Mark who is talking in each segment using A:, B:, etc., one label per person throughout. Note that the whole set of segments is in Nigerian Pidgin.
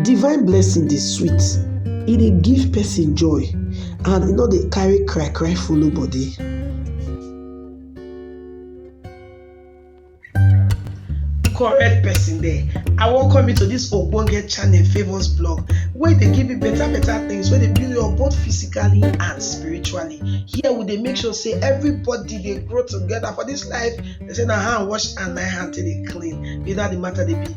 A: Divine blessing dey sweet, e dey give person joy and e no dey carry cry cry follow body. Correct person there, I welcome you to this ogbonge channel Favours blog wey dey give you better better things wey dey build you up both physically and spiritually. Here we dey make sure say everybody dey grow together for this life, they say na hand wash hand na hand take dey clean, be that the matter dey be.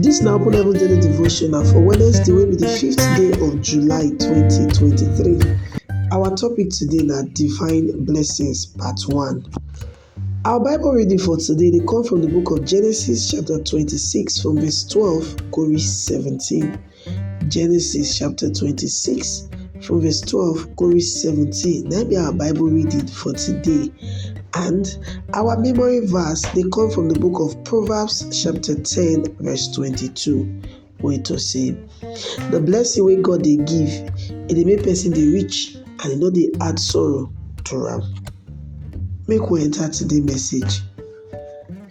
A: Dis na Open Heaven Daily Devotional for Wednesday wey be di fifth day of July 2023. Our topic today na Divine Blessings Part 1. Our Bible reading for today dey come from di book of Genesis chapter 26 from verse 12 go reach 17. Genesis chapter 26 from verse 12 go reach 17. Now be our Bible reading for today. And our memory verse they come from the book of Proverbs chapter 10 verse 22. Wait to see. The blessing wey God they give, it dey make person dey rich and e no dey add sorrow to am. Make we enter today message.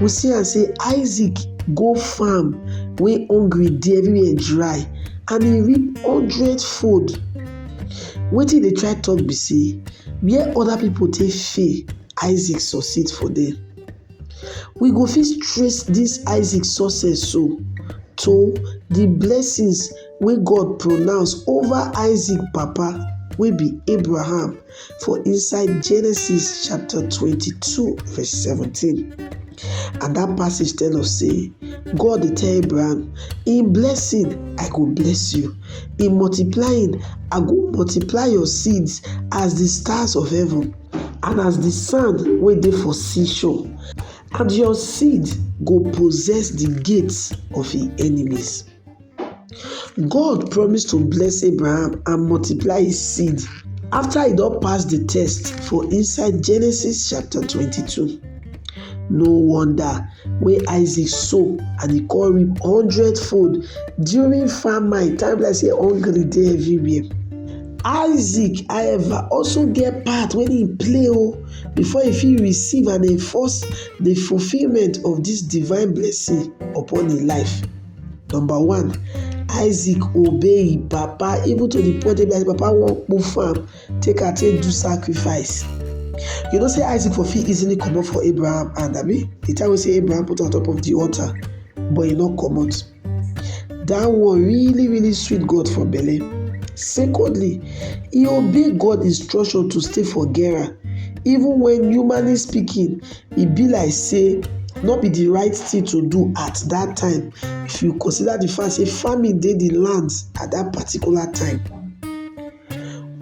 A: we see am sey Isaac go farm wey hungry dey everywhere dry and e reap hundred fold wetin e dey try talk be sey where other people take fail Isaac succeed for there we go fit trace this Isaac success so to the blessings wey God pronounce over Isaac papa wey be Abraham. for inside Genesis chapter 22 verse 17. And that passage tells us say God dey tell Abraham, in blessing I go bless you, in multiplying I go multiply your seeds as the stars of heaven and as the sand wey dey for seashore, and your seed go possess the gates of im enemies. God promise to bless Abraham and multiply his seed after he don pass the test for inside Genesis chapter 22. No wonder wey Isaac sow and he come reap hundredfold during famine time like say hungry dey everywhere. Isaac however also get part wey he play o oh, before he fit receive and enforce the fulfilment of this divine blessing upon him life. Number one, Isaac obey him papa even to the point wey be like papa wan kpo farm take am take do sacrifice. You know say Isaac for fit easily comot for Abraham hand abi the time wey say Abraham put on top of the altar but he no comot. That one really really sweet God for belle. Secondly, he obey God instruction to stay for Gera even when humanly speaking e be like say no be the right thing to do at that time if you consider the fact say famine dey the land at that particular time.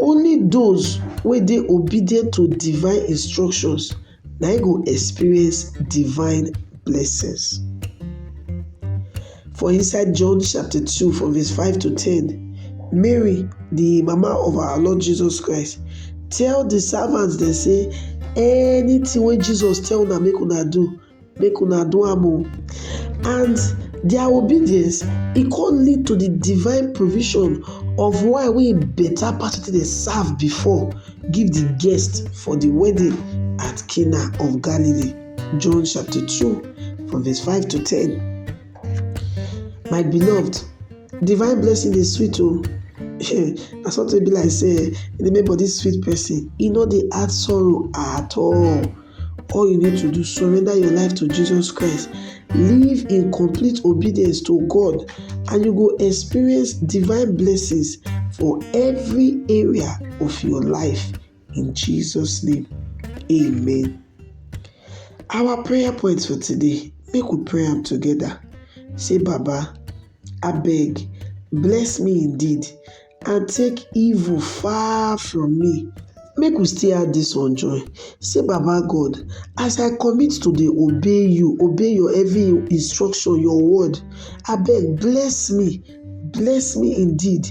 A: Only those wey dey obedient to divine instructions na im go experience divine blessings. For inside John chapter 2 from verse 5 to 10, Mary, the mama of our Lord Jesus Christ, tell the servants dem say anything wey Jesus tell una make una do, make una do am o. And their obedience e come lead to the divine provision of wine wey better pass wetin dem serve before give the guests for the wedding at Cana of Galilee. John chapter 2, from verse 5 to 10. My beloved, divine blessing is sweet o. na something be like say the make body sweet person e no dey add sorrow at all all you need to do surrender your life to jesus christ live in complete obedience to god and you go experience divine blessings for every area of your life In Jesus' name, amen. Our prayer points for today, make we pray am together. Say, Baba, I beg, bless me indeed, and take evil far from me. Make we still add this one join. Say, Baba God, as I commit to dey obey you, obey your every instruction, your word, I beg, bless me, bless me indeed,